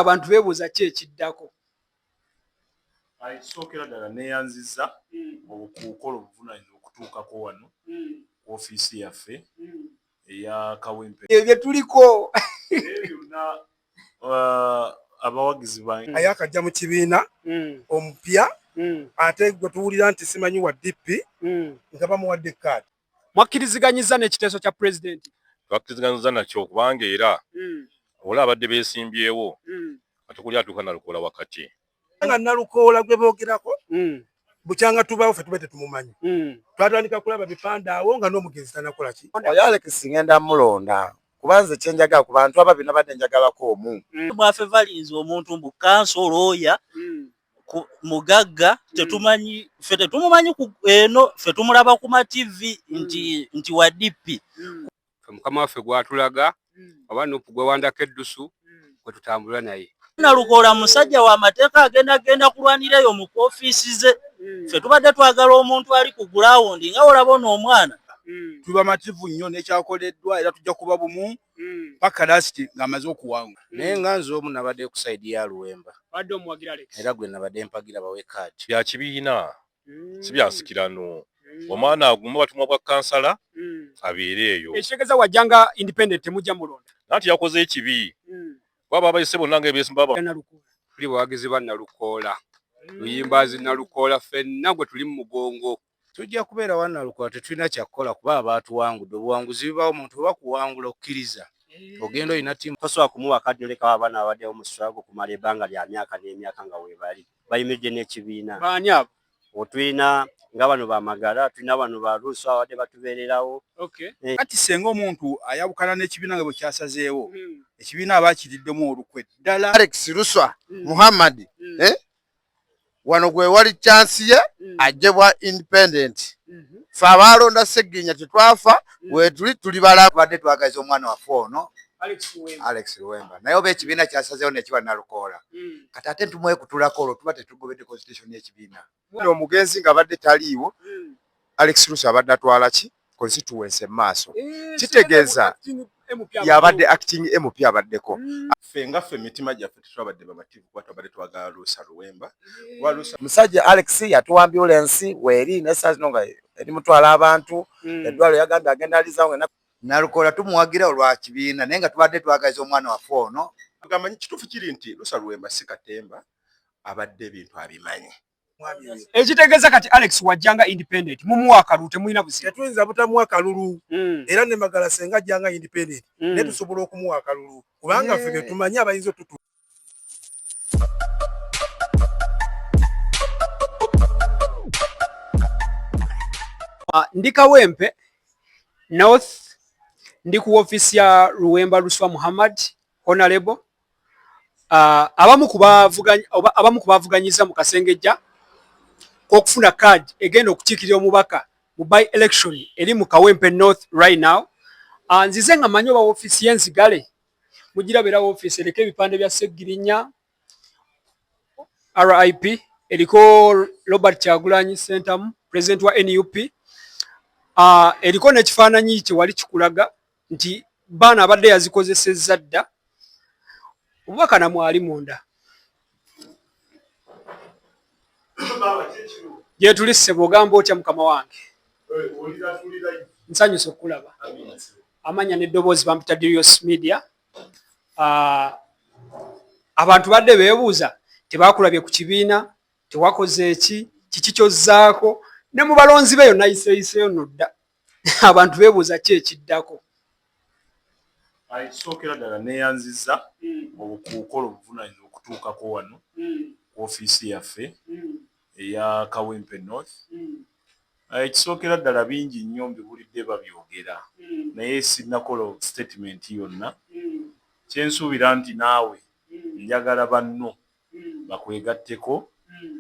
abantu bebuuza ki ekiddako kisookera ddala neyanziza hmm. okukola obuvunanyizibwa okutuukako wano hmm. ku ofiisi yaffe hmm. eya kawempe ebyo byetuliko byonna uh, abawagizi bange aye akajja mu kibiina omupya ate gwe tuwulira nti simanyi wa dp nga bamuwadde kaadi Mwakkiriziganyizza n'ekiteeso kya Pulezidenti? Twakkiriziganyizza nakyo kubanga era hmm. wala abadde beesimbyewo hmm. kati kuli atuuka Nalukoola wakati. Nga Nalukoola gwe boogerako hmm. bukyanga tubawo ffe tuba tetumumanyi twatandika kulaba bipande awo nga n'omugenzi tanakola ki oyo Alex ngenda mulonda kuba nze kyenjaga ku bantu ababina badde njagalako omu mwafe valinze omuntu mbu kanso looya mugagga tetumanyi mm. fe tetumumanyi eno fe tumulaba ku matv mm. nti nti wa dp mm. mukama waffe gwatulaga oba nupu gwewandako eddusu kwetutambula naye nalukola musajja wa mateeka agenda genda kulwanira eyo mu ofiisi ze fe tubadde twagala omuntu ali ku gulawundi nga olaba ono omwana tubamativu nnyo nekyakoleddwa era tujja kuba bumu mm. paka lasiti ng'amaze okuwangula mm. naye nga nze omu nabadde ku saidi ya luwemba era gwe nabadde mpagira bawe kaati bya kibiina mm. si byansikirano mm. omwana aguma batumwa bwa kansala mm. abeere eyo ekitegeza wajja nga independent temujja mulonda nanti yakoze ekibi mm. baba abayise bonna nga ebesimba tuli bawagizi ba nalukoola mm. luyimbazi nalukoola fenna gwe tuli mu mugongo Tujja kubeera wa Nalukola tetulina kyakukola kuba abaatuwangudde obuwanguzi bibaawo omuntu bwe bakuwangula okkiriza ogenda olina ttiimu. Tosobola kumuwa kaddu lekawo abaana babaddewo mu struggle okumala ebbanga lya myaka n'emyaka nga weebali bayimiridde n'ekibiina. Baani abo? O, tulina nga bano ba Magara, tulina bano ba Russo ababadde batubeererawo. Okay. Eh. Kati ssenga omuntu ayawukana n'ekibiina nga bwe kyasazeewo, hmm. ekibiina aba akiriddemu olukwe ddala. Alex Luswa hmm. Muhammad hmm. eh? wano gwe wali chance ye mm. ajje bwa independent mm -hmm. fe abaalonda ssegginya tetwafa mm. wetuli tuli balabadde twagaza omwana waffe ono alex luwemba naye oba ekibiina kyasazewo nekiba nalukoola mm. kati ate ntumwekutulako olwo tuba tetugobedde constitution yekibiina omugenzi nga abadde taliiwo mm. alex lusi abadde atwala ki constituency maaso eh, kitegeeza yabadde acting MP abaddeko hmm. ffe nga ffe emitima gyaffe tetwabadde bamativu kuba twabadde twagala luusa luwemba eh. musajja alex yatuwa ambulensi weeri naye saa zino nga eri mutwala abantu hmm. eddwalo yagambye agenda alizawo nalukola tumuwagira olwa kibiina naye nga tubadde twagaliza omwana waffe ono agamba kituufu kiri nti lusa luwemba si katemba abadde ebintu abimanyi ekitegeeza kati alex wajjanga independent mumuwa akalulu temulina busitetuyinza butamuwa akalulu hmm. era ne magala senga ajjanga independent hmm. naye tusobola okumuwa akalulu kubanga ffe betumanyi abayinza otutu ah, ndi kawempe north ndi ku ofisi ya luwemba luswa muhammad honorable Uh, abamu ku bavuganyizza mu kasengejja k'okufuna card egenda okukiikirira omubaka mu by election eri mu kawempe north right now uh, nzize nga manyi oba ofiisi y'enzigale mugiraba era ofiisi eriko ebipande bya seggirinya rip eriko robert kyagulanyi sentamu president wa nup uh, eriko n'ekifaananyi kyewali kikulaga nti baana abadde yazikozesezza dda omubaka namwali munda gyetuli ssebo ogamba otya mukama wange nsanyusa okukulaba amanya neddoboozi bampita dirios media ah, abantu badde bebuuza tebakulabye ku kibiina tewakoze eki kiki kyozzaako ne mu balonzi be yonna yiseeyiseeyo nodda abantu bebuuza ki ekiddako ekisookera ddala neyanziza hmm. obukuukola obuvunanyizibwa okutuukako wano hmm. ku ofiisi yaffe hmm. eya kawempe north ekisookera ddala bingi nnyo mbiwulidde babyogera naye sinakola sitatimenti yonna kyensuubira nti naawe njagala banno bakwegatteko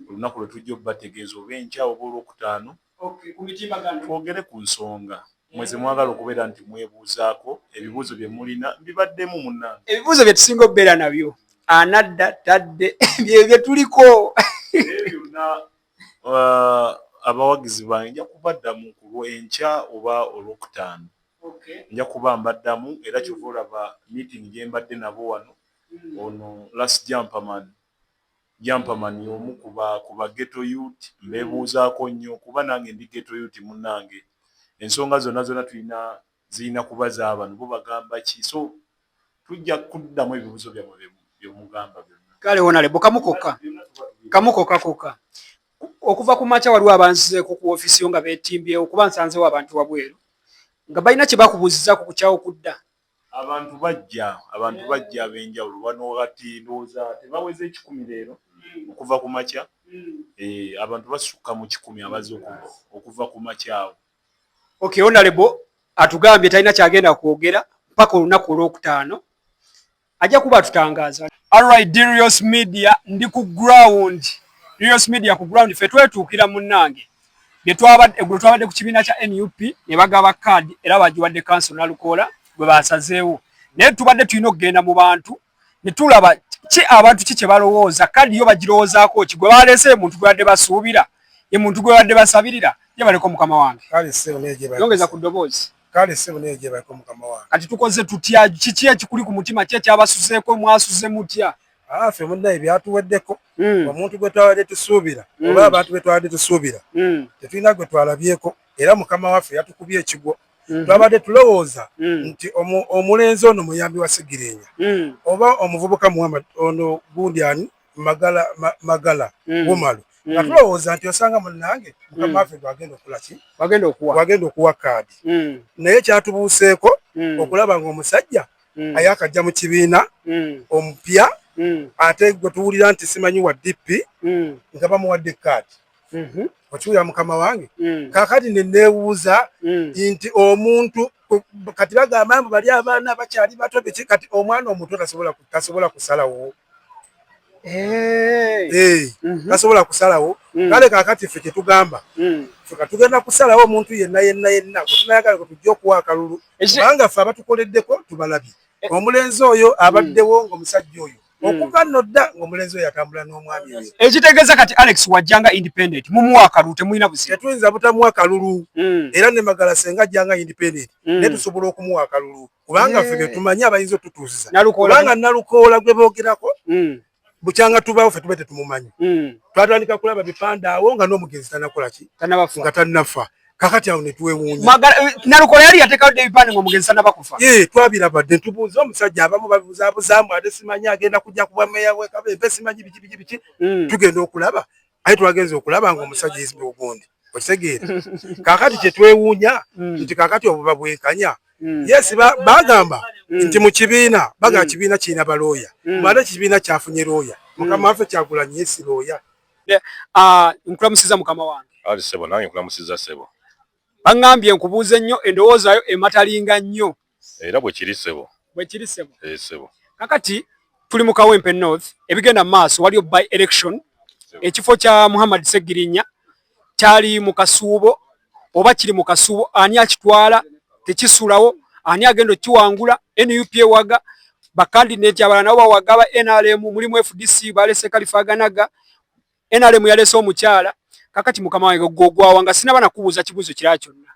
olunaku lwe tujja obubategeeza oba enkya oba Olwokutaano twogere ku nsonga mmwe ze mwagala okubeera nti mwebuuzaako. Ebibuuzo bye mulina mbibaddemu munnange. Ebibuuzo bye tusinga okubeera nabyo anadda tadde bye bye tuliko. Naye byonna abawagizi bange nja kubaddamu ku lw'enkya oba Olwokutaano. Nja kuba mbaddamu era kyova olaba miitingi gye mbadde nabo wano. Ono last jamper man jamper man yomu ku ba ku ba ghetto yut mbebuuzaako nnyo kuba nange ndi ghetto yut munange ensonga zona zona tulina zilina kuba zabano bo bagamba ki so tujja kuddamu ebibuzo byamwe bye byemugamba byona. Kale honalebo kamu kokka kamu kokka kokka okuva ku makya waliwo abanzizeeko ku office yo nga betimbyewo kuba nsanzewo abantu wabweru nga balina kye bakubuzizako kukyawo kudda Abantu bajja abantu bajja ab'enjawulo bano kati ndowooza tebaweze ekikumi leero okuva ku makya eh, abantu basukka mu kikumi abaze okuva ku makya awo. Okay, onalebo atugambye talina kyagenda kwogera mpaka olunaku olwokutaano ajja kuba atutangaaza. Alright, Dirios Media ndi ku ground. Dirios Media ku ground fe twetuukira munnange. eggulo twabadde ku kibiina kya nup ne bagaba kaadi era bagiwadde kanso nalukoola gwe basazeewo naye tubadde tulina okugenda mu bantu ne tulaba ki abantu ki kye balowooza kaadi yo bagirowoozaako ki gwe baleese ye muntu gwebadde basuubira ye muntu gwebadde basabirira ye baleko mukama wange yongeza ku ddoboozi kale sebo naye gye bayiko mukama wange kati tukoze tutya kiki ekikuli ku mutima ki ekyabasuzeeko mwasuze mutya afe ah, munaye byatuweddeko hmm. omuntu gwe twabadde tusuubira hmm. oba abantu be twabadde tusuubira hmm. tetulina gwe twalabyeko era mukama waffe yatukubye ekigwo twabadde tulowooza nti omulenzi ono muyambi wa sigirinya oba omuvubuka muhammad ono gundi ani magala magala gumalu nga tulowooza nti osanga munange mukama waffe gwagenda okulaki wagenda okuwa kaadi naye kyatubuuseeko okulaba nga omusajja mm. ayakajja mu kibiina mm. omupya mm. ate gwe tuwulira nti simanyi wa dp mm. nga bamuwadde kaadi mm -hmm. okiwulira mukama wange mm. kakati neneewuuza mm. nti omuntu kati bagamba mbu bali abaana bakyali bato biki kati omwana omuto tasobola kusalawo Eh. Eh. Mhm. tasobola kusalawo mm. kale kakati ffe kyetugamba mm. feka tugenda kusalawo omuntu yenna yenna yenna kutunayagala kwe tujja okuwa akalulu kubanga ffe abatukoleddeko tubalabye eh. omulenzi oyo abaddewo mm. ngaomusajja oyo okuva nno dda ngaomulenzi oyo atambula n'omwami oyo ekitegeeza kati alex wajjanga independent mumuwa akalulu temulina buzi tetuyinza butamuwa akalulu era ne magala senga ajjanga independent naye tusobola okumuwa akalulu kubanga ffe betumanyi abayinza otutuusiza kubanga nalukoola gwe boogerako hmm. bukyanga tubaawo fe tuba tetumumanyi hmm. twatandika kulaba bipande awo nga n'omugenzi tanakola ki nga tannafa kakati awo netwewuunya eh, nalukoola yali yatekawo dde ebipande nga omugenzi tanaba kufa ee eh, twabiraba dde ntubuuza omusajja abamu babuzabuzaamu ate simanyi agenda kujja kubwa meya wekaba empe simanyi biki biki biki hmm. tugenda okulaba aye twagenze okulaba nga omusajja is ogundi okitegeera kakati kyetwewuunya mm. nti kakati obuba bwenkanya mm. yes bagamba mm. nti mu kibiina bagamba kibiina kirina balooya mwaate kibiina kyafunye looya mukama waffe kyagula nyo esi looya ah, nkulamusiza mukama wange ali sebo nange nkulamusiza sebo Bangambye nkubuuze nnyo endowoozayo ematalinga nnyo. Era bwe kiri ssebo. Bwe kiri ssebo. Ee eh, ssebo. Kakati tuli mu Kawempe North ebigenda mu maaso waliyo by election ekifo kya Muhammad Ssegirinya kyali mu kasuubo oba kiri mu kasuubo ani akitwala tekisulawo ani agenda okiwangula nup ewaga bakandidati abalala nabo bawaga ba nrm mulimu fdc balese kalifaganaga NRM yalese omukyala kakati mukama wange gwogwawa nga sinaba nakubuuza kibuuzo kirala kyonna.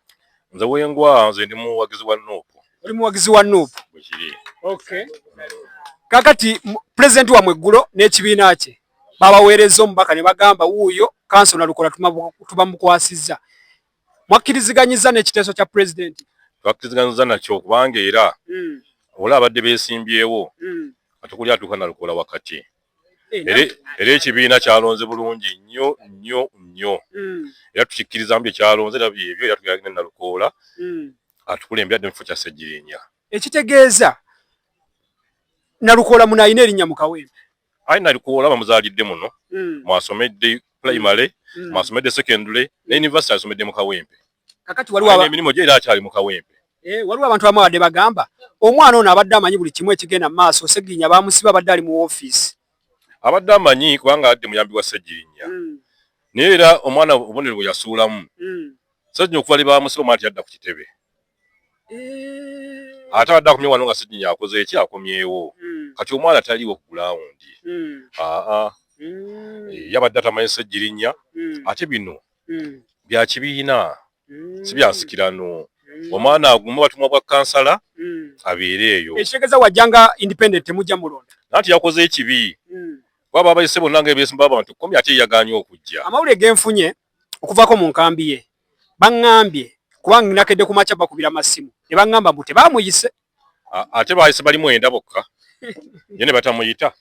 Nze wengwa nze ndi muwagizi wa Nup. Oli muwagizi wa Nup? Bwekiri. Okay. Kakati president wa mweggulo n'ekibiina kye babaweereza omubaka ne bagamba wuuyo kanso nalukola tubamukwasizza. Mwakkiriziganyizza n'ekiteeso kya president? Twakkiriziganyizza nakyo kubanga era mm. ola abadde besimbyewo mm. atukuli atuuka nalukola wakati. era ekibiina kyalonze bulungi nnyo nnyo nnyo mm. era tukikkirizamu bye kyalonze era byebyo era tugenda genda nalukoola mm. atukulembera dde mu kifo kya ssegirinya ekitegeeza nalukoola muno alina erinnya mu kawempe ayi nalukoola bamuzaalidde muno mm. mwasomedde primary mwasomedde secondary ne university asomedde mu kawempe kakati waliwo aba... emirimu gye era akyali mu kawempe eh, waliwo abantu abamu abadde bagamba omwana ono abadde amanyi buli kimu ekigenda mu maaso seginya bamusiba abadde ali mu ofiisi abadde amanyi kubanga adde muyambi wa segirinya mm. naye era omwana obubonero bwe yasuulamu mm. seginya okuva lyebamusiba omwana teyadda ku kitebe eh. ate abadde akomye wano nga seginya akoze eki akomyewo mm. kati omwana taliwo ku gulawundi mm. aa mm. Eh, yabadde atamanyi segirinya mm. ate bino mm. bya kibiina mm. si bya nsikirano mm. omwana aguma batumwa bwa kansala mm. abeere eyo ekitegeza wajjanga independent temujja mulonda nanti yakoze ekibi mm. baba abayise bonna nga ebyesimba abantu komi ate yaganye okujja amawulire genfunye okuvaako mu nkambi ye baŋŋambye kubanga nakedde ku makya bakubira masimu ne baŋŋamba mbu tebamuyise ate bayise bali mwenda bokka ye ne batamuyita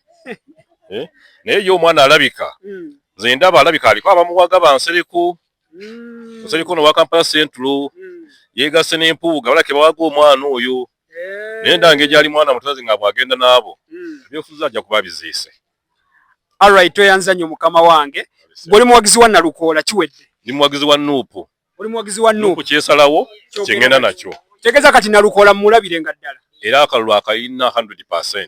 eh? naye ye omwana alabika hmm. nze ndaba alabika aliko abamuwaga bansereko hmm. nsereko nowa kampala central hmm. yegase nempuuga balake bawaga omwana oyo eh. naye ndange gyali mwana mutazi nga bwagenda naabo ebyofuza ajja kuba biziise alright tweyanza nnyo mukama wange bwoli muwagizi wa nalukoola kiwedde ndi muwagizi wa nuupu oli muwagizi wa nup kukyesalawo kyengenda nakyo tegeza kati nalukola mulabire nga ddala era akalulu akayina 100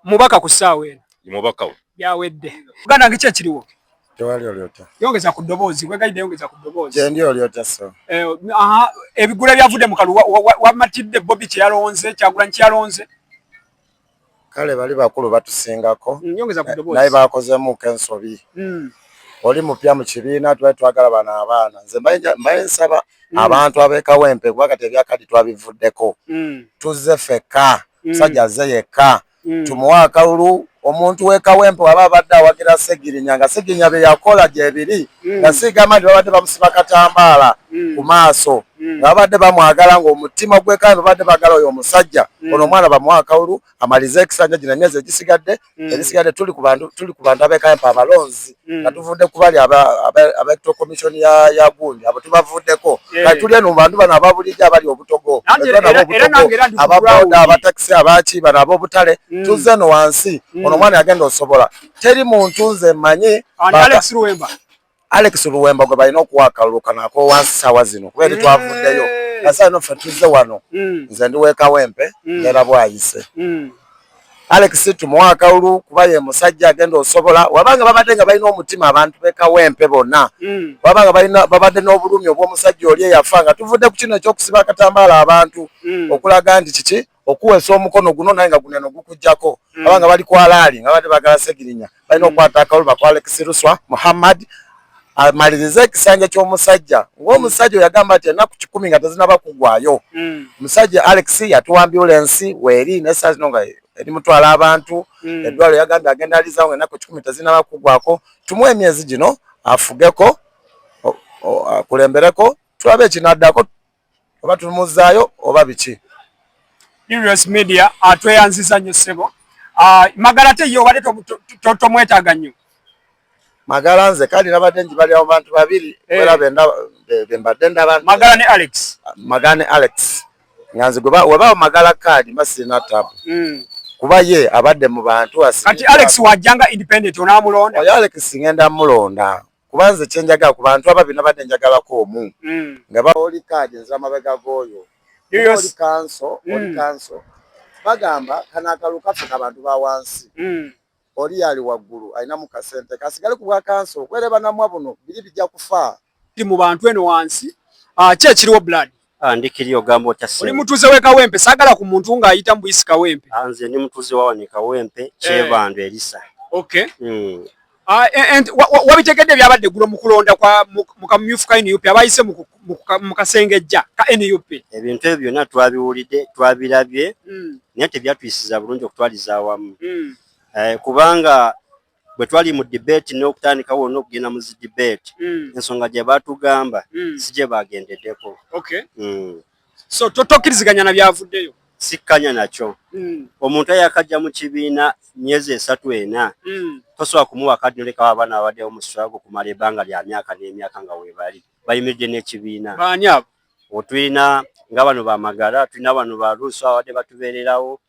mubaka ku ssaawa eno mubaka we byawedde uganda nge kyekiriwo tewali olyotya yongeza ku ddoboozi kwegayidde yongeza ku ddoboozi kyendi olyotya so eh, aha ebigula byavudde mu kalulu wamatidde bobi kyeyalonze kyagulanyi kyeyalonze kale bali bakulu batusingako mm, naye bakozemuko ensobi mm. oli mupya mu kibiina tubali twagala bano abaana nze mbaye nsaba mm. abantu abekawempe kuba kati ebyakadi twabivuddeko mm. tuzze fekka mm. sajja azze yekka mm. tumuwe akalulu omuntu wekawempe waba abadde awagira segirinya nga segirinya byeyakola gyebiri mm. nga sigamba nti babadde bamusiba katambaala mm. ku maaso mm. nga babadde bamwagala ng'omutima gwekala babadde bagala oyo omusajja ono omwana bamuwa akawulu amalize ekisanja gina emyezi egisigadde ebisigadde tuli ku bantu abekampa abalonzi nga tuvudde ku bali abeto commission ya gundi abo tubavuddeko kati tuli eno mu bantu bano ababulijjo abali obutogo ababoda abatakisi abaki bano abobutale tuzze eno wansi ono omwana yagenda osobola teri muntu nze manyi Alex Luwemba Alex Luwemba gwe balina okuwa akalulu kano ak'owansi saawa zino kuba eri twavuddeyo nasaa ino ffe tuzze wano mm. nze ndi wekawempe mm. neera bwayise mm. Alex tumuwa akalulu kuba ye musajja agenda osobola wabanga babadde nga balina omutima abantu bekawempe bonna wabanga babadde n'obulumi obw'omusajja oli eyafa nga tuvudde ku kino ekyokusiba akatambaala abantu okulaga nti kiki okuwesa omukono guno naye nga guneno gukujjako mm. abanga bali kwalaali nga bade bagala segirinya balina mm. okwata akawulu bakwala ekisiruswa muhammad amalirize ekisanja ky'omusajja ng'omusajja oyagamba nti enaku kikumi nga tezinaba kugwayo omusajja mm. alex yatuwa ambulensi weeri nesaa zino nga eri mutwala abantu eddwalo yagambye agenda alizawo nga enaku kikumi tezinaba kugwako tumu emyezi gino afugeko akulembereko tulabe ekinaddako oba tumuzzaayo oba biki Urios media ah, tweyanziza nnyo ssebo ah, magala te ye obadde tomwetaaga nnyo magala nze kale nabadde njibali abo bantu babiri eh. era bembadde ndaba magala ne alex ah, magala ne alex nga nze webaawo magala kaadi mba sirina tabu hmm. kuba ye abadde mu bantu kati alex wajjanga independent onamulonda oyo alex ngenda mulonda kuba nze kyenjagala ku bantu ababiri nabadde njagalako omu mm. nga baoli kaadi nzira mabega g'oyo oli kanso oli mm. kanso bagamba kano akalu kaffe ka bantu ba wansi mm. oli yali waggulu alinamu kasente kasigale ku bwa kanso okwereba namwa buno biri bijja kufa ti mu bantu eno wansi ah, ki ekiriwo blood Ah, ndi kiri ogamba otya ssebo? Oli mutuuze w'e Kawempe, saagala ku muntu ng'ayita mu buyisi Kawempe. Ah, nze ndi mutuuze wa wano e Kawempe, eh. Kyebando Erisa. Okay. Mm. Ah, eh, wabitegedde ebyabadde eggulo mu kulonda kwa mu kamyufu ka nup abayise mu kasengejja ka nup ebintu ebyo byonna twabiwulidde twabirabye hmm. naye tebyatuyisiza bulungi okutwaliza awamu hmm. eh, kubanga bwe twali mu debate n'okutandikawo n'okugenda mu zi debate mm. ensonga gye batugamba mm. si gye bagendedeko okay. mm. so totokkiriziganya na byavuddeyo sikkanya nakyo mm. omuntu ayakajja mu kibiina myezi esatu ena mm. tosobola kumuwa kadi nolekawo abaana babaddewo mu swago okumala ebbanga lya myaka n'emyaka nga webali bayimiridde n'ekibiina baani abo otulina nga bano bamagala tulina bano baluusi abadde batubeererawo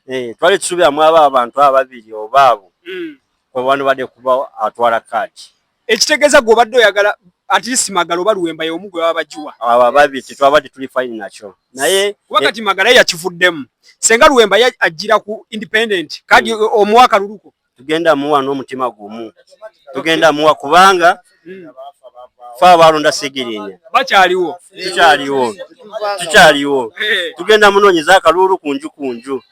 eh, twali tusuubira mwaba abantu ababiri oba abo mm. kwebano badde kuba atwala kaadi ekitegeeza gwe obadde oyagala atlist magala oba luwemba yomu gwe baba bagiwa abo ababiri tetwabadde tuli fine nakyo naye kuba kati magala yakivuddemu senga luwemba ajjira ku independent kaadi mm. omuwa akaluluko tugenda muwa n'omutima gumu tugenda muwa kubanga fe abaalonda sigirinya bakyaliwo tukyaliwo tukyaliwo eh. tugenda munoonyeza akaluulu ku nju ku nju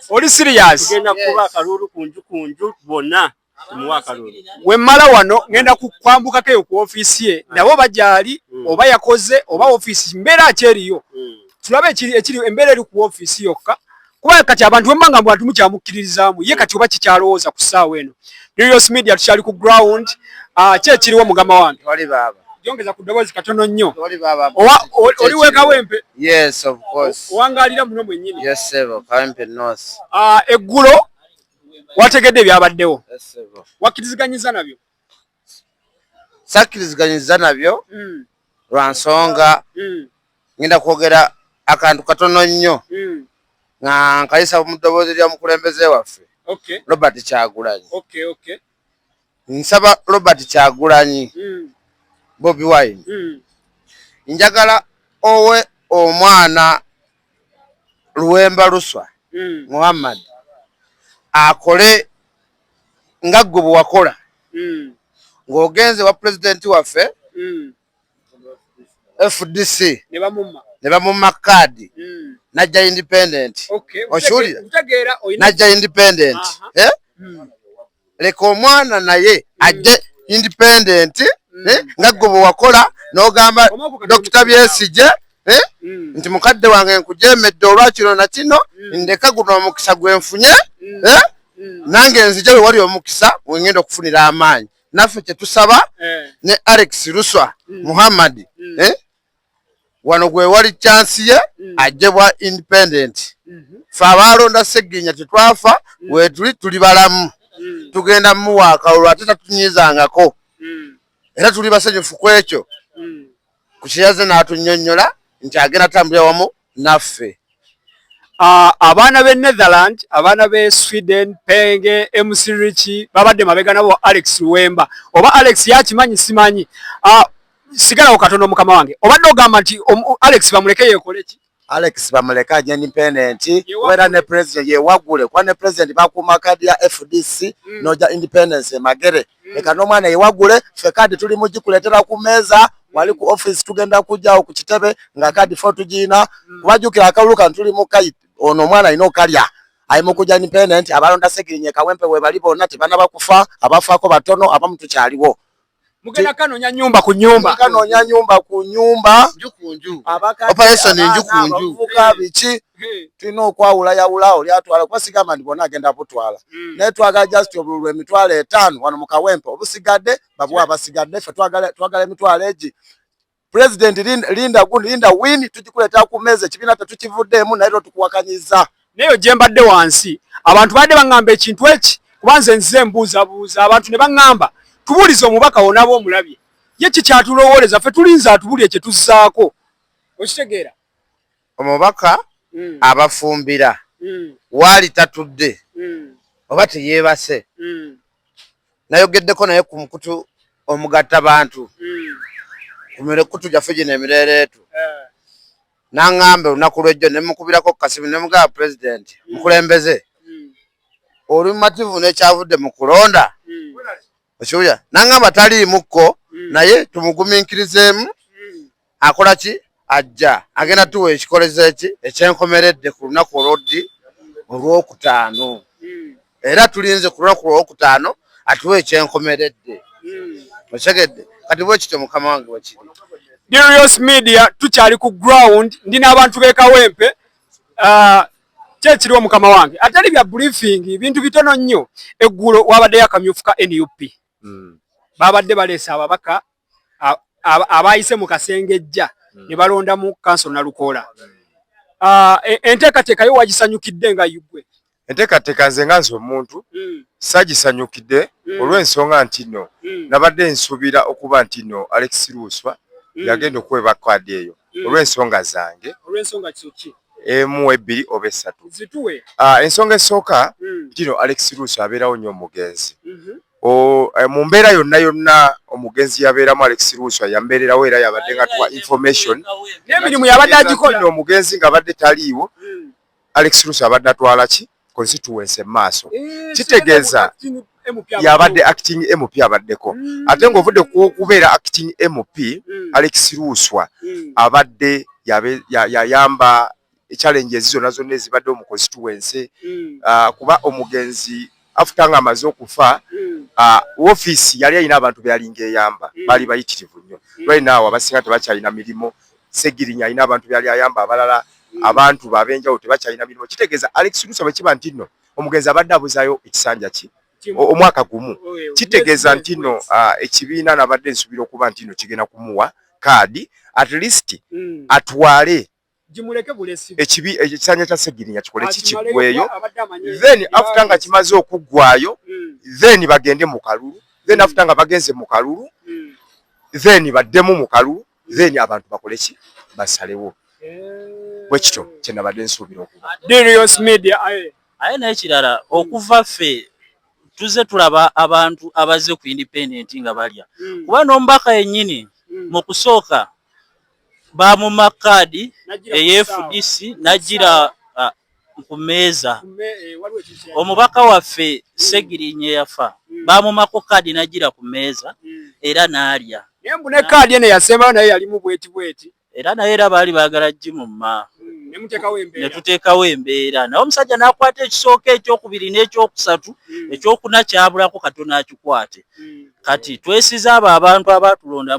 oli siriyasi tugenda kuba akaluulu ku nju ku nju bonna wemmala wano ŋenda kukwambukako eyo ku ofiisi ye ah. nabo bagyali hmm. oba yakoze oba ofiisi mbeera ki eriyo hmm. tulabe ekiri embeera eri ku ofiisi yokka kuba kati abantu bemba nga mbwatu mukyamukkiririzaamu ye kati oba kikyalowooza ku ssaawa eno Nerios Media tukyali ku ground ah, ki ekiriwo mugama wange wali baaba jongeza ku ddoboozi katono nnyo wali baaba oli wekawempe yes of course owangaalira muno mwennyini yes sebo kawempe north ah, eggulo wategedde ebyabaddewo wakkiriziganyiza nabyo sakkiriziganyizza nabyo mm. lwa nsonga mm. ngenda kwogera akantu katono nnyo mm. nga nkayisa mu ddoboozi lya mukulembeze waffe robert kyagulanyi nsaba robert kyagulanyi bobi wine njagala owe omwana luwemba luswa muhammad akole nga gwe bwewakola mm. ng'ogenze wa pulezidenti waffe mm. fdc ne bamumma kaadi mm. najja independent okiwulira najja independent eh? leka omwana naye ajje independent eh? nga gwe bwewakola n'ogamba dokita byesigye eh? mm. nti mukadde wange nkujemedde olwakino nakino mm. ndeka guno omukisa gwenfunye mm. eh? mm. nange nzija wewali omukisa wengenda okufunira amaanyi naffe kyetusaba eh. ne alex ruswa mm. muhammad mm. eh? wano gwewali chansi ye mm. ajebwa independent mm -hmm. fe abaalonda seginya tetwafa mm. wetuli tuli balamu mm. tugenda muwaaka olwo ate tatunyizangako mm. era tuli basanyufu kwekyo mm. ku kyeyaze n'atunnyonnyola nti agenda tambulira wamu naffe ah, abaana b'e netherland abaana b'e sweden penge mc richi babadde mabega nabo alex luwemba oba alex yakimanyi simanyi ah, sigalawo katono mukama wange obadde ogamba nti alex bamuleke yekoleki Alex bamuleka aje independent wera ne president ye wagule kwa ne president bakuma kadi ya FDC mm. noja independence magere mm. leka no mwana ye wagule fe kadi tuli mujikuletera ku meza mm. wali ku office tugenda kuja ku kitebe nga kadi fo tujina mm. kubajukira akaluka tuli mu kayit ono mwana ino kalya ayi mukuja independent abalonda sekirinye kawempe we bali bona tibana bakufa abafako batono abamutu kyaliwo mugenda kanonya nyumba ku nyumba kanonya nyumba ku nyumba operation enju ku nju abavubuka biki tulina okwawula yawula oli atwala kuba sigamba nti bona agenda butwala hmm. naye twagala just obululu emitwalo etaano wano mu kawempe obusigadde babuwa abasigadde ffe twagala emitwalo egi President Linda, Linda, Linda win tujikuleta ku meza kibina tatukivuddemu naye tukuwakanyiza. Nayo jembadde wansi abantu badde bangamba ekintu eki kubanze nze mbuuza buuza abantu ne bangamba tubulize omubaka wona bo mulabye ye kikyatulowooleza fe tulinze atubulye kye tuzzaako okitegeera Omubaka mm. abafumbira mm. waali tatudde mm. oba teyeebase mm. nayogeddeko naye ku mukutu omugatta bantu mm. ku mikutu gyaffe gino emireereetu yeah. naŋŋamba olunaku lwejjo ne mukubirako kasimu ne mugaba pulezidenti mm. mukulembeze mm. oli mumativu nekyavudde mu kulonda mm. okiwulira nangamba taliimukko mm. naye tumuguminkirizeemu mm. akola ki ajja agenda tuwa ekikoleza eki ekyenkomeredde ku lunaku olwoddi olwokutaano mm. era tulinze ku lunaku olwokutaano atuwa ekyenkomeredde okitegedde kati bwekityo mukama wange wekiri Dirios Media tukyali ku ground ndi n'abantu b'e Kawempe uh, kyekiriwo mukama wange atali bya briefing bintu bitono nnyo eggulo wabaddeyo akamyufu ka nup hmm. babadde baleese ababaka abayise mu kasengejja hmm. ne balondamu kanso nalukoola hmm. ah, e, enteekateeka yo wagisanyukidde nga yugwe enteekateeka nze nga nze omuntu sagisanyukidde olw'ensonga nti no nabadde nsuubira okuba nti no alex luuswa yagenda okwebakadi eyo olw'ensonga zange olw'ensonga kiki emu ebbiri oba essatu ah, ensonga esooka hmm. tino alex ruusi abeerawo nnyo omugenzi mhm. eh, mu mbeera yonna yonna omugenzi yabeeramu alex ruusi yambeererawo era yabadde nga tuwa information n'emirimu yabadde agikola omugenzi ng'abadde taliiwo hmm. alex ruusi abadde atwala ki constituency maaso eh, kitegeeza yabadde acting MP abaddeko mm. ate ng'ovudde ku okubeera acting MP mm. Alex Luuswa mm. abadde yayamba challenge ezi zonna zonna ezibadde mu constituency ah, kuba omugenzi afuta nga amaze okufa hmm. ah, office yali alina abantu beyalinga eyamba hmm. bali bayitirivu nnyo hmm. right now abasinga tebakyalina mirimu Ssegirinya alina abantu byali ayamba abalala abantu babenjawulo tebakyalina mirimu kitegeeza Alex Lusa bwe kiba nti nno omugenzi abadde abuzaayo ekisanja ki omwaka gumu kitegeeza nti nno ah, ekibiina nabadde nsuubira okuba nti nno kigenda kumuwa kaadi at least mm. atwale ekibi ekisanja kya Ssegirinya kikole kikigweyo then after nga kimaze okuggwayo mm. then bagende mu kalulu then mm. after nga bagenze mu kalulu then baddemu mu kalulu then abantu bakole ki basalewo eh. bwekityo kyenabadde nsuubira okuba aye naye kirala okuva ffe tuze tulaba abantu abazze ku independent nga balya hmm. kuba n'omubaka yennyini hmm. mu kusooka bamuma kaadi eyefudisi najira ku mmeeza omubaka waffe ssegirinya eyafa baamumako kaadi nagira ku mmeeza era n'alya naye mbu ne kaadi eno yasembayo naye yalimu bweti bweti era naye era baali baagala gimumma netuteekawo embeera naye omusajja nakwata ekisooka ekyokubiri n'ekyokusatu hmm. ekyokuna kyabulako katono akikwate hmm. kati twesiza abo abantu abaatulonda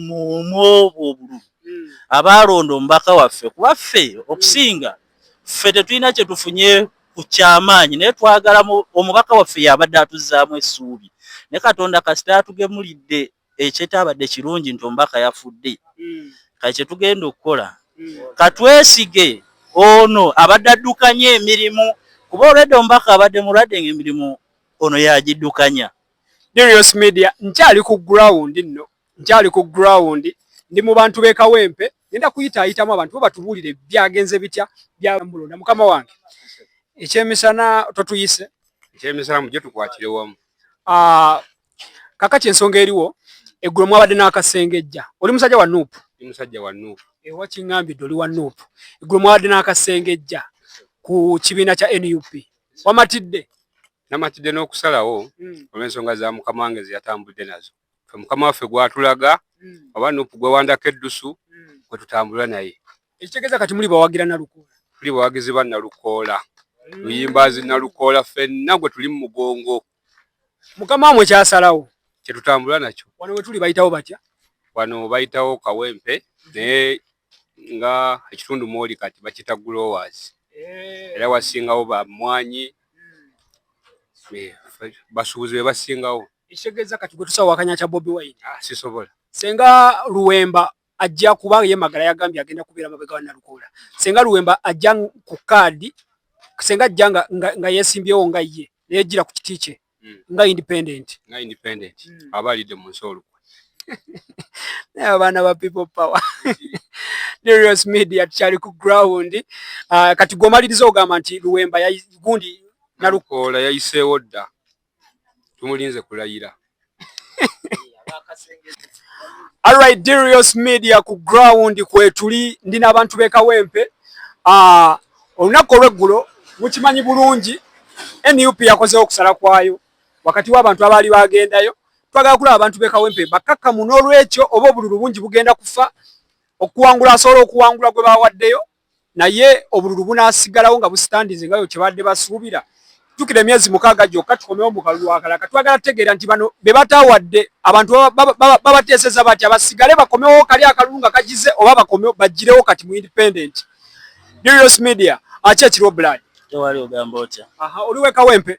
mumwobo obululu hmm. abaalonda omubaka waffe kuba ffe okusinga ffe tetulina kye tufunye ku kyamaanyi naye twagala omubaka waffe yabadde atuzzaamu essuubi ne katonda kasita atugemulidde ekyetabadde kirungi nti omubaka yafudde hmm. kati kye tugenda okukola hmm. katwesige ono abadde addukanya emirimu kuba olwedde omubaka abadde mulwadde ngaemirimu ono yagiddukanya Darius Media nkyali ku ground nno nkyali ku ground ndi mu bantu be Kawempe ngenda kuyitaayitamu abantu bo batubuulire byagenze bitya byamulonda mukama wange ekyemisana totuyise ekyemisana mujje tukwatire wamu ah, kakati ensonga eriwo eggulo mwabadde n'akasengejja oli musajja wa nuupu ndi musajja wa nuupu ewa kiŋambidde oli wa nuupu eggulo mwabadde n'akasengejja ku kibiina kya nup wamatidde namatidde n'okusalawo hmm. olw'ensonga za mukama wange zeyatambudde nazo fe mukama waffe gwatulaga mm. oba nupu gwewandako eddusu mm. kwetutambula naye ekitegeeza kati muli bawagira nalukoola tuli bawagizi ba nalukoola mm. luyimbazi nalukoola fenna gwe tuli mu mugongo mukama wamwe kyasalawo kyetutambula nakyo wano wetuli bayitawo batya wano bayitawo kawempe mm-hmm. naye nga ekitundu mwoli kati bakita growers eh. era wasingawo bamwanyi mm. eh, basuubuzi bebasingawo Ekitegeeza kati gwe tusawa wakanya kya Bobi Wine. Ah, sisobola. Senga Luwemba ajja kuba ye magala yagambye agenda kubeera mabega wa Nalukoola. Senga Luwemba ajja ku kaadi senga ajja nga, nga, nga yesimbyewo nga ye neyejjira ku kiti kye mm. nga independent nga independent mm. aba alidde mu nsi olukwe naye abaana ba people power Darius Media tukyali ku ground uh, kati gwomaliriza ogamba nti Luwemba gundi Nalukoola yayiseewo dda tumulinze kulayira Alright, Dirios Media ku ground kwetuli ndi n'abantu b'e Kawempe. Uh, olunaku olw'eggulo mukimanyi bulungi NUP yakozeewo okusala kwayo wakati w'abantu abaali bagendayo. Twagala kulaba abantu b'e Kawempe bakakkamu n'olwekyo oba obululu bungi bugenda kufa okuwangula asobola okuwangula gwe bawaddeyo naye obululu bunasigalawo nga busitandinze nga yo kyebadde basuubira jukira emyezi mukaaga gyokka tukomewo mu kalulu akalaka twagala tutegeera nti bano be bataawadde abantu babateeseza batya basigale bakomewo kali akalulu nga kagize oba bakomewo bagirewo kati mu independent Dirios media aki ekiriwo blood tewali ogamba otya aha oli wekawempe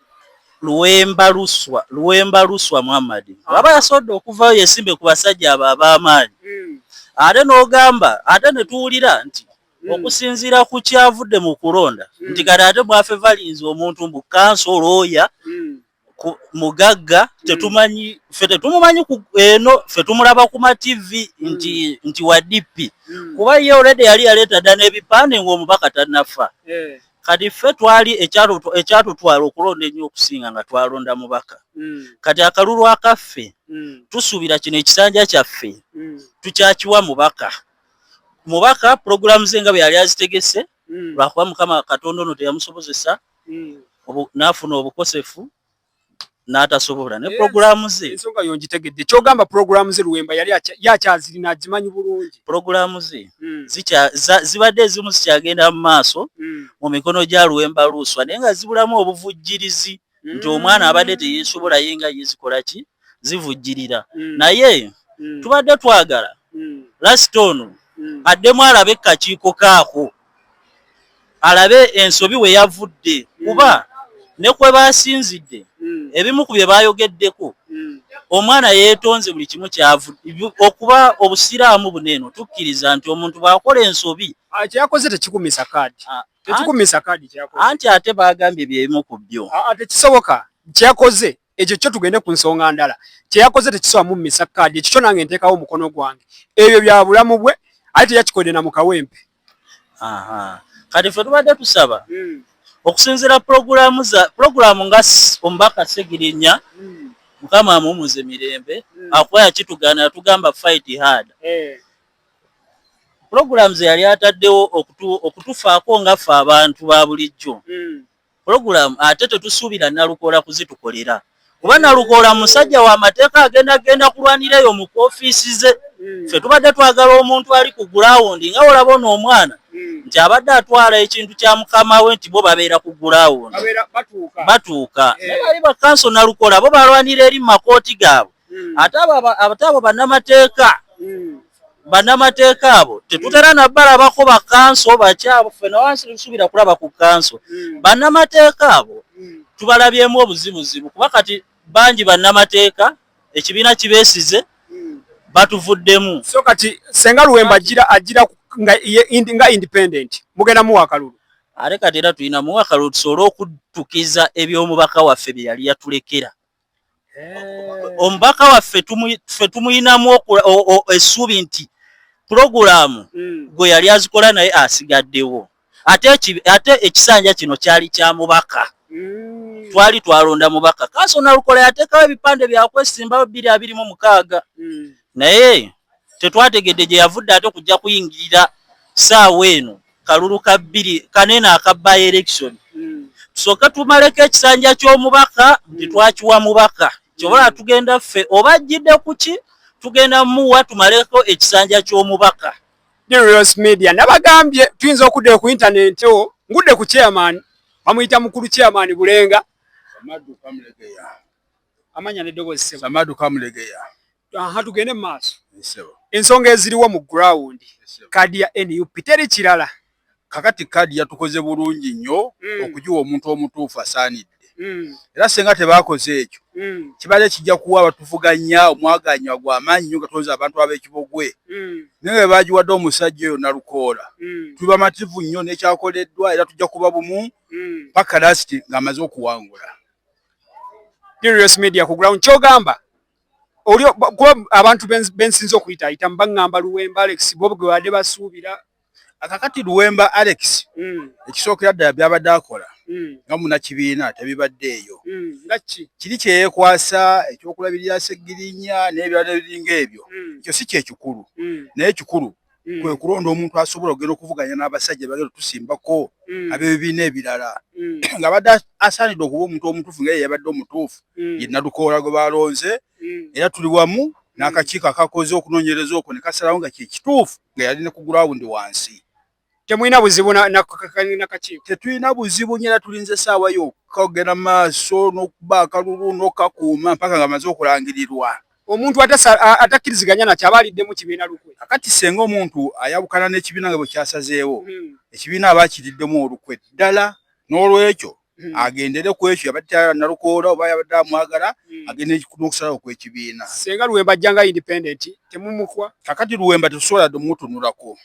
Luwemba Luswa Luwemba Luswa Muhammad bw'aba ah. yasobodde okuvaayo yesimbe ku basajja abo ab'amaanyi hmm. ate n'ogamba ate ne tuwulira nti hmm. okusinziira ku kyavudde mu kulonda hmm. nti kati ate mwafe valinzi omuntu mbu kanso olwoya mugagga tetumanyi fe tetumumanyi eno fe tumulaba ku mativi nti nti wa dp kuba ye olede yali yaleeta dda n'ebipande ng'omubaka tanafa eh. kati ffe twali ekyatutwala okulonda ennyo okusinga nga twalonda mubaka mm. kati akalulu akaffe mm. tusuubira kino ekisanja kyaffe mm. tukyakiwa mubaka mubaka pulogulaamu ze nga bwe yali azitegese lwakuba mukama katonda ono teyamusobozesa n'afuna obukosefu n'atasobola ne pulogulaamu ze ensonga yo ngitegedde kyogamba pulogulaamu ze luwemba yali yakyazirina agimanyi bulungi pulogulaamu ze hmm. zibadde ezimu zikyagenda mu maaso hmm. mu mikono gya luwemba luuswa naye nga zibulamu obuvujjirizi hmm. nti omwana abadde teyesobola ye nga ye zikola ki zivujjirira naye tubadde twagala lasita ono addemu alabe kakiiko kaako alabe ensobi we yavudde kuba ne kwe baasinzidde ebimu ku bye baayogeddeko omwana yeetonze buli kimu kyavudde okuba obusiraamu buno eno tukkiriza nti omuntu bw'akola ensobi ah, kyeyakoze tekikumisa kaadi ah, tekikumisa kaadi kyeyakoze anti ate baagambye bye bimu ku byo ah, tekisoboka kyeyakoze ekyo kyo tugende ku nsonga ndala kyeyakoze tekisoba mu misa kaadi ekyo kyo nange nteekawo omukono gwange ebyo bya bulamu bwe aye teyakikodde na mukawempe kati ffe tubadde tusaba hmm. okusinzira pulogulaamu za pulogulaamu nga omubaka segirinya hmm. mukama amumuze mirembe hmm. akuba yakitugaana yatugamba fight hard eh. pulogulaamu ze yali ataddewo okutufaako nga ffe abantu ba bulijjo Pulogulaamu ate tetusuubira Nalukoola kuzitukolera kuba Nalukoola musajja wa mateeka agenda genda kulwanira eyo mu koofiisi ze. Hmm. Ffe tubadde twagala omuntu ali ku gulaawundi nga olaba ono omwana hmm. nti abadde atwala ekintu kya mukama we nti bo babeera ku gulaawundi batuuka. Naye bali bakanso Nalukoola bo balwanira eri mu makooti gaabwe. hmm. ate abo banamateeka hmm. banamateeka abo tetutera nabalabako bakanso bakyabo fenawansisubira kulaba ku kanso hmm. banamateeka abo tubalabyemu obuzibuzibu kuba kati bangi banamateeka ekibiina kibesize batuvuddemu so kati senga luwemba ajira ajira nga nga independent mugenda muwa kalulu are kati era tulina muwa kalulu tusobole okutukiza eby'omubaka waffe bye yali yatulekera eh. omubaka waffe ffe tumuyinamu essuubi nti pulogulaamu hmm. gwe yali azikola naye asigaddewo ate ekisanja kino kyali kya mubaka hmm. twali twalonda mubaka kanso nalukola yateekawo ebipande byakwesimbawo bbiri abiri mu mukaaga hmm. naye tetwategedde gye yavudde ate okujja kuyingirira saawa eno kalulu ka bbiri kanene aka by election hmm. tusooke tumaleko ekisanja ky'omubaka nti hmm. twakiwa mubaka kyobola hmm. tugenda ffe oba ajjidde ku ki tugenda muwa tumaleko ekisanja ky'omubaka Dirios Media nabagambye tuyinza okudda ku intaneti wo ngudde ku chairman bamuyita mukulu chairman Bulenga Samadu Kamulegeya amanya ne dobozi Samadu Kamulegeya aha tugende maaso ensonga eziriwo mu ground kaadi ya nup teri kirala kakati kaadi yatukoze bulungi nnyo mm. okugiwa omuntu omutuufu asaanidde mm. era singa tebakoze ekyo mm. kibadde kijja kuwa abatuvuganya omwaganywa gwa maanyi nyo gatonza abantu ab'ekibogwe naye bwe bagiwadde omusajja oyo nalukoola tuli bamativu nnyo n'ekyakoleddwa era tujja kuba bumu paka lasiti ng'amaze okuwangula Curious Media ku ground kyogamba oli kuba abantu bensinza okuyita ayita mbaŋŋamba luwemba alex bob gwe badde basuubira akakati luwemba alex mm. ekisookera ddala byabadde akola mm. nga munakibiina tebibadde eyo mm. nga ki kiri kyeyekwasa ekyokulabirira segirinya n'ebirala ebiringa ebyo ekyo si kyekikulu naye ekikulu mm. kwe kulonda omuntu asobola okugenda okuvuganya n'abasajja bagenda tusimbako mm. ab'ebibiina ebirala mm. nga badde asaanidde okuba omuntu omutuufu nga ye yabadde omutuufu mm. ye nadukoola gwe balonze mm. era tuli wamu mm. n'akakiiko akakoze okunoonyereza okwo ne kasalawo nga kyekituufu nga yali ne ku gurawundi wansi temulina buzibu nakakiiko tetulina buzibu nyo era tulinza essaawa yokka okugenda maaso n'okuba akalulu n'okakuuma mpaka nga maze okulangirirwa Omuntu atakkiriziganya nakyo aba aliddemu kibiina lukwe. Kakati ssenga omuntu ayawukana n'ekibiina nga bwe kyasazeewo, hmm. ekibiina aba akiriddemu olukwe ddala. N'olwekyo hmm. agendere ku ekyo yabadde tayala nalukoola oba yabadde amwagala hmm. agende n'okusalawo kw'ekibiina. Ssenga Luwemba ajja nga independent temumukwa. Kakati Luwemba tetusobola dde mumutunulako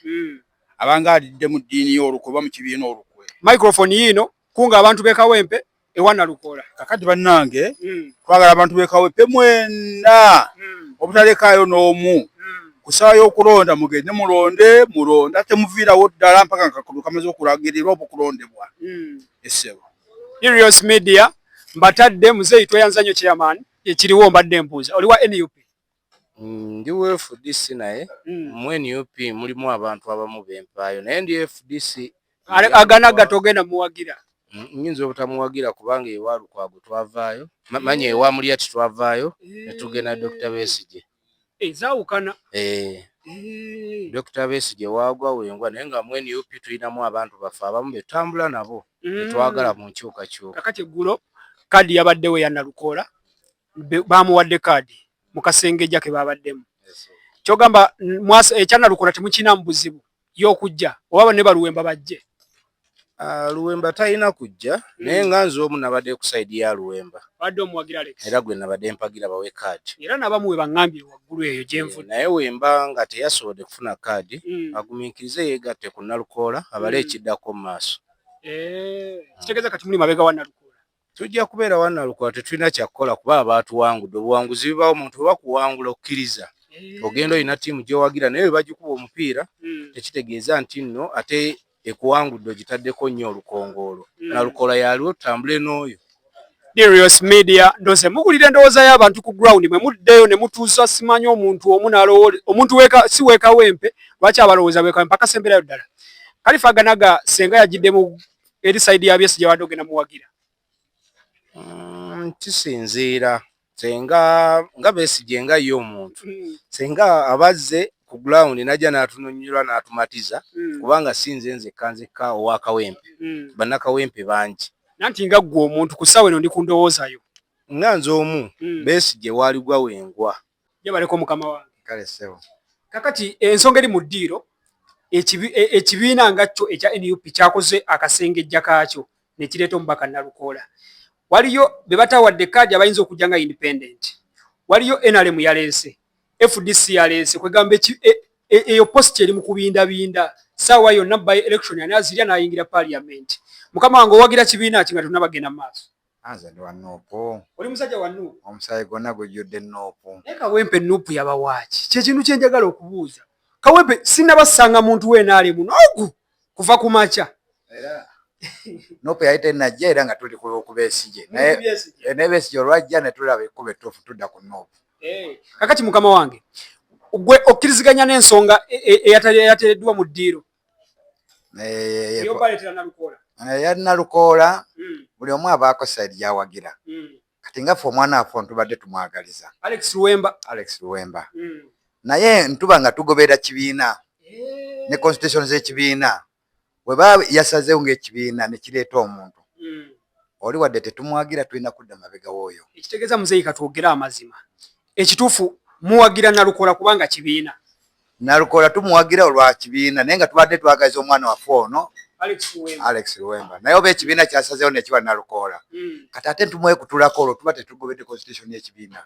abanga alidde mu ddiini y'olukwe oba mu kibiina olukwe. Microphone yiino kunga abantu b'e Kawempe ewa Nalukoola. Kakati bannange hmm. twagala abantu bekawepe mwena hmm. obutalekaayo n'omu hmm. ku ssaawa y'okulonda mugende mulonde mulonde ate muviirawo ddala mpaka nga kakudu kamaze okulagirirwa oba okulondebwa essebo Irios Media mbatadde muzeeyi tweyanza nnyo chairman ekiriwo mbadde mbuuza oli wa nup Mm, ndi wa fdc naye mm. mu nup mulimu abantu abamu bempaayo naye ndi fdc agana gatogenda muwagira mm, nyinza obutamuwagira kubanga ewa lukwago twavaayo manya ewa mulya titwavaayo eh. netugenda dr besije ezawukana eh, eh. dr besije wagwa wengwa naye nga mu nup tulinamu abantu baffe abamu betambula nabo mm. betwagala mu nkyukakyuka kakati eggulo kadi yabaddewo yanalukoola baamuwadde kaadi mu kasengejja ke baabaddemu kyogamba ekyanalukona eh, temukinamu buzibu y'okujja oba ne baluwemba bajje ah, luwemba talina kujja hmm. naye nga nze omu nabadde ku saidi ya luwemba era gwe nabadde mpagira bawe kaadi era nabamu we baŋambye waggulu eyo gyenvu eh, naye wemba nga teyasobodde kufuna kaadi hmm. agumiikirize yeegatte ku nalukoola abale hmm. ekiddako mu maaso eh, kitegeeza kati muli mabega wa nalukoola Tujja kubeera wa Nalukola tetulina kyakukola kuba abaatuwangudde obuwanguzi bibaawo omuntu bwe bakuwangula okkiriza eh. ogenda olina ttiimu gy'owagira naye bwe bagikuba omupiira hmm. tekitegeeza nti nno ate ekuwangudde ogitaddeko nnyo olukongoolo hmm. Nalukola yaliwo tutambule n'oyo Dirios Media ndoze mugulira endowooza y'abantu ku ground mwe muddeyo ne mutuuza simanyi omuntu omu nalowole omuntu weka si weka wempe lwaki abalowooza weka wempe akasembeerayo ddala Kalifa Ganaga senga yajidde mu eri side ya byesi jawade ogenda muwagira mm, kisinziira senga nga besigye nga ye omuntu mm. senga abazze ku ground najja n'atunonyula n'atumatiza mm. kubanga si nze nzekka nzekka owa kawempe mm. bannakawempe bangi nanti nga ggwe omuntu ku ssaawa eno ndi ku ndowooza yo nga nze omu mm. besigye waali gwa wengwa Yebaleko mukama wange. Kale sebo. Kakati ensonga eri mu ddiiro e, ekibiina nga kyo ekya nup kyakoze akasengejja kaakyo nekireeta omubaka nalukoola waliyo bebatawadde kaadi abayinza okujja nga independent waliyo nrm yaleese fdc yaleese kwegamba e, e, eyo posti eri mu kubindabinda saawa yonna by election ani azirya nayingira parliament mukama wange owagira kibiina ki nga tonabagenda mu maaso Anze ndi wa nuupu. Oli musajja wa nuupu. Omusaayi gwonna gujjudde nuupu. Naye Kawempe nuupu yabawaaki? Kye kintu kye njagala okubuuza. Kawempe sinnaba ssanga muntu wa NRM n'ogu kuva ku makya. Era nuupu yali tennajja era nga tuli ku Besigye. Naye eh, ne Besigye olwajja ne tulaba ekkubo ettuufu tudda ku nuupu. Eh, kakati mukama wange gwe okkiriziganya n'ensonga e, e, eyateereddwa mu ddiiro yalina lukoola hmm. buli omu abaako saidi gyawagira hmm. kati ngaffe omwana affe ntubadde tumwagaliza alex luwemba alex luwemba hmm. naye ntuba nga tugoberera kibiina ne constitution z'ekibiina weba yasazewo ngaekibiina nekireeta omuntu oli wadde tetumwagira tulina kudda mabega wooyo ekitegeeza muzeeyi katwogere amazima ekituufu muwagira nalukola kubanga kibiina Nalukoola tumuwagira olwa kibiina naye nga tubadde twagaliza omwana waffe ono Alex Luwemba naye oba ekibiina kyasazeewo nekiwa Nalukoola hmm. kati ate ntumwekutulako olwo tuba tetugobedde constitution y'ekibiina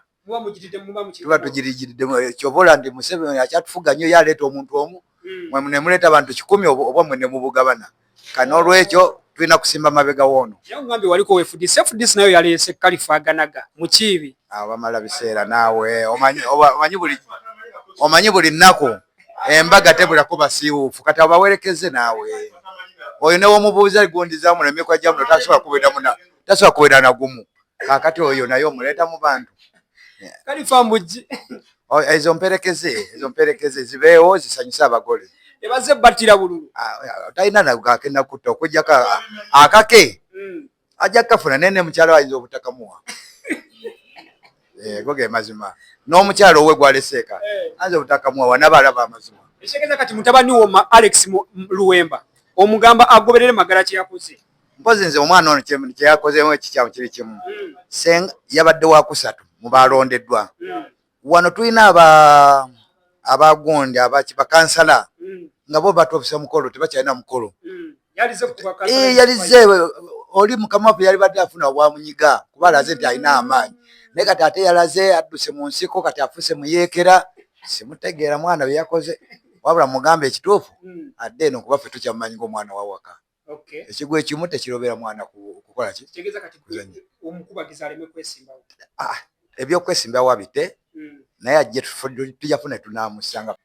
tuba tugirigiridemu eh, kyova ola nti Museveni akyatufuga nnyo ye aleeta omuntu omu hmm. mwe nemuleeta abantu kikumi obwa mwe nemubugabana kati n'olwekyo tulina kusimba mabega woono yangambye waliko wefudisi efudisi nayo yaleese kalifaganaga mukiibi awo bamala biseera naawe omanyi buli omanyi buli nnaku embaga tebulako basiiwuufu kati abo bawerekezze naawe oyo newomubuuza gundi zamuno emikwa gyamuno tasobola kubeera muna tasobola kubeera nagumu kakati oyo naye omuleeta mu bantu kalifa mbujji oh, ezo mperekeze ezo mperekeze zibeewo zisanyuse abagole ebaze battira bululu ah, ah, talina nagakenda kutta okujjako akake hmm. ajja kukafuna naye ne mukyalo ayinza obutakamuwa eh, go ge mazima n'omukyalo owe gwaleseeka eh. ayinza obutakamuwa wanabalaba amazima ekitegeza kati mutabani wo alex luwemba omugamba agoberere magala kyeyakoze mpozi nze omwana ono kyeyakozeemu ekikyamu kiri kimu senga yabadde wakusatu mubalondeddwa wano tulina abagundi bakansala nga bo batobisa mukolo tebakyalina mukolo yalize oli mukama waffe yalibadde afuna obwamunyiga kuba alaze nti alina amaanyi naye kati ate yalaze adduse mu nsiko kati afuse muyeekera simutegeera mwana byeyakoze wabula mugambe ekituufu adde eno kuba ffe tukyamumanyi ngaomwana wawaka Okay. Ekigwa ekimu tekirobera mwana kukola ki? Kitegeeza kati omukubagizi aleme kwesimbawo. Ah, ebyokwesimbawo abite mm. naye ajje tujja funa tunamusanga.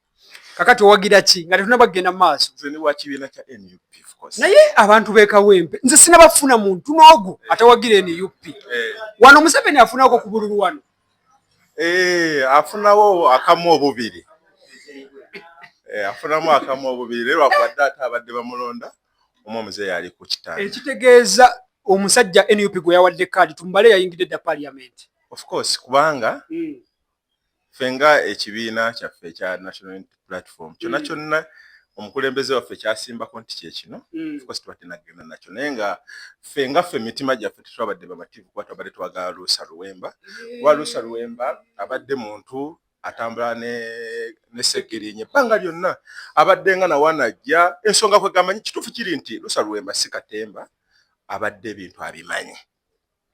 Kakati owagira ki nga tetunaba kugenda maaso? Nze ne wa kibiina kya NUP of course. Naye abantu be Kawempe nze sinabafuna muntu n'ogu eh. atawagira NUP. Eh. Wano Museveni afunaako ku bululu wano. Eh, afunawo akamu obubiri eh, afunamu akamu obubiri naye lwakuba dda ate abadde bamulonda omu omuzeeyi ali ku kitanda ekitegeeza omusajja nup gwe yawadde kaadi tumbale yayingidde dda paliamenti of course kubanga hmm. ffe nga ekibiina kyaffe ekya national platform kyona mm. kyonna omukulembeze waffe kyasimbako nti kyekino mm. ofcourse tubadde nagenda nakyo naye nga ffe nga ffe emitima gyaffe tetwabadde bamativu kuba twabadde twagala luusa luwemba kuba luusa luwemba abadde muntu atambula nesegirinye ebbanga lyonna abadde nga nawanajja ensonga kwegamanyi kituufu kiri nti luusa luwemba si katemba abadde ebintu abimanyi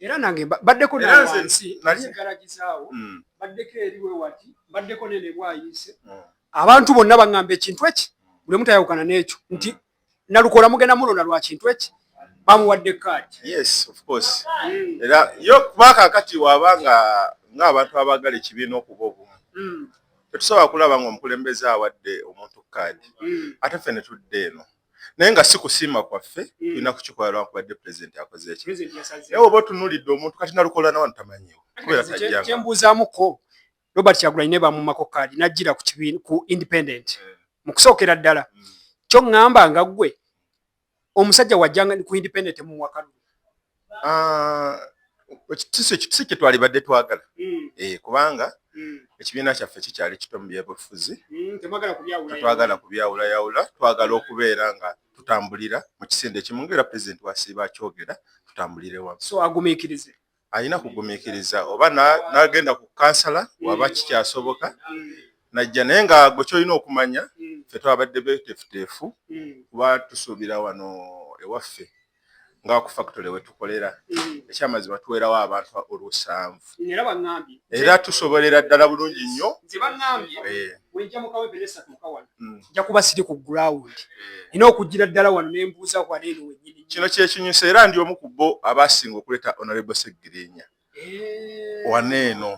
era nange baddeko nawansi nsigalagizawo mm. baddeko eriwe wati baddeko nene bwayiise mm. abantu bonna baŋŋamba ekintu eki buli omu tayawukana n'ekyo nti nalukola mugenda mulonda lwa kintu eki bamuwadde kaadi mm. era yo kuba kakati waba nga ng'abantu abaagala ekibiina okuba obumu tetusobola kulaba ngaomukulembeze awadde omuntu kaadi ate ffe ne tudde eno naye nga si kusiima kwaffe mm. tulina mm. kukikola lwankubadde pulezidenti akoze eki naye oba otunulidde omuntu kati nalukola nawa ntamanyiwo kubeera tajjakyembuuzaamuko robert kyagulanyi ne bamumako kaadi najjira ku kibiina ku independent eh. mu kusookera ddala mm. kyo ŋŋamba nga ggwe omusajja wajjanga ku independent mumuwakalulu Ah, ekitisi ekitisi kye twalibadde twagala hmm. eh, kubanga hmm. ekibiina kyaffe kikyali kito mu byebufuzi hmm, tetwagala kubyawulayawula twagala okubeera nga tutambulira mu kisinde ekimu ngaera pulezidenti wasiiba akyogera tutambulire wamu so agumikirize alina kugumikiriza oba nagenda ku kansala waba kikyasoboka najja naye nga gwe kyolina okumanya fe twabadde betefuteefu kuba tusuubira wano ewaffe nga ku factory wetukolera mm. ekyamazima tuwerawo abantu olusanvu era tusobolera ddala bulungi nnyo njakuba eh. mm. siri ku ground eh. ina okugira ddala wano nembuuza wano eno wenyini kino kyekinyusa era ndi omu ku bo abasinga okuleeta honorable segirinya eh. wano eno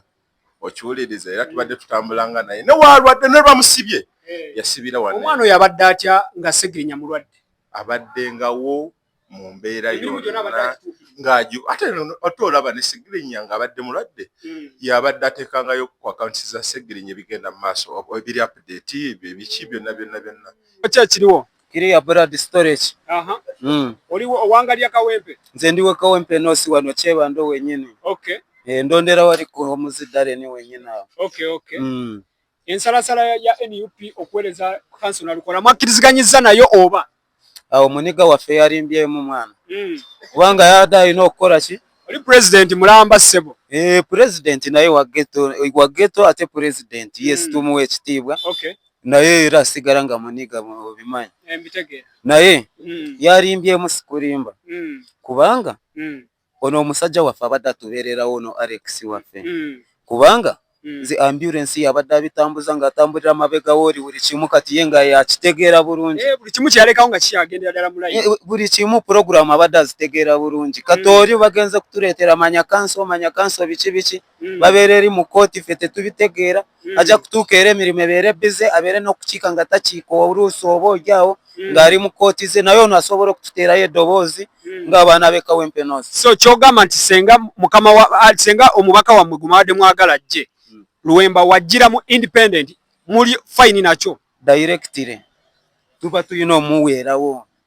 okiwuliriza era tubadde tutambulanga naye newalwadde nelwamusibye eh. yasibira wano omwana oyo abadde atya nga segirinya mulwadde abaddengawo mu mbeera yonna ng'aju ate ate olaba ne segirinya ng'abadde mulwadde hmm. yabadde ateekangayo ku akawunti za segirinya ebigenda mu maaso ebiri apudeti ebyo ebiki byonna byonna byonna kyakkiriwo kiriya brad storage aha mm. oli owangalya kawempe nze ndiwe kawempe nosi wano kyebando wenyini okay eh, ndondera wali ku omuzidale ni wenyini awo okay okay mm. ensalasala ya nup okuwereza kanso nalukola mwakkiriziganyizza nayo oba awo muniga waffe yalimbyemu mwana mm. kubanga yada alina okukola ki Oli president mulamba sebo. Eh president naye wa ghetto wa ghetto ate president mm. yes tumu ekitiibwa. Okay. Naye era sigara nga muniga obimanyi. Eh mbitegeera. Naye mm. yalimbye musikulimba. Mm. Kubanga mm. ono omusajja waffe abadde atubeererawo ono Alex waffe mm. kubanga hmm. nze ambulance yabadde abitambuza ng'atambulira mabega wooli buli kimu kati ye nga yakitegeera bulungi eh, buli kimu kyeyalekawo nga kikyagendera ddala mulayi eh, buli kimu pulogulaamu abadde azitegeera bulungi kati hmm. oli bagenze kutuleetera manya kanso manya kanso biki biki hmm. babeera eri mu kooti ffe tetubitegeera ajja kutuuka era emirimu ebeere bize abeere n'okukiika nga takiika oluusi oba olyaawo ng'ali mu kooti ze naye ono asobola okututeerayo eddoboozi hmm. nga abaana be kawempe north so kyogamba nti senga mukama wa ah, senga omubaka wammwe gumabadde mwagala ajje hmm. luwemba wajjira mu independent muli fayini nakyo directly tuba tulina omuweerawo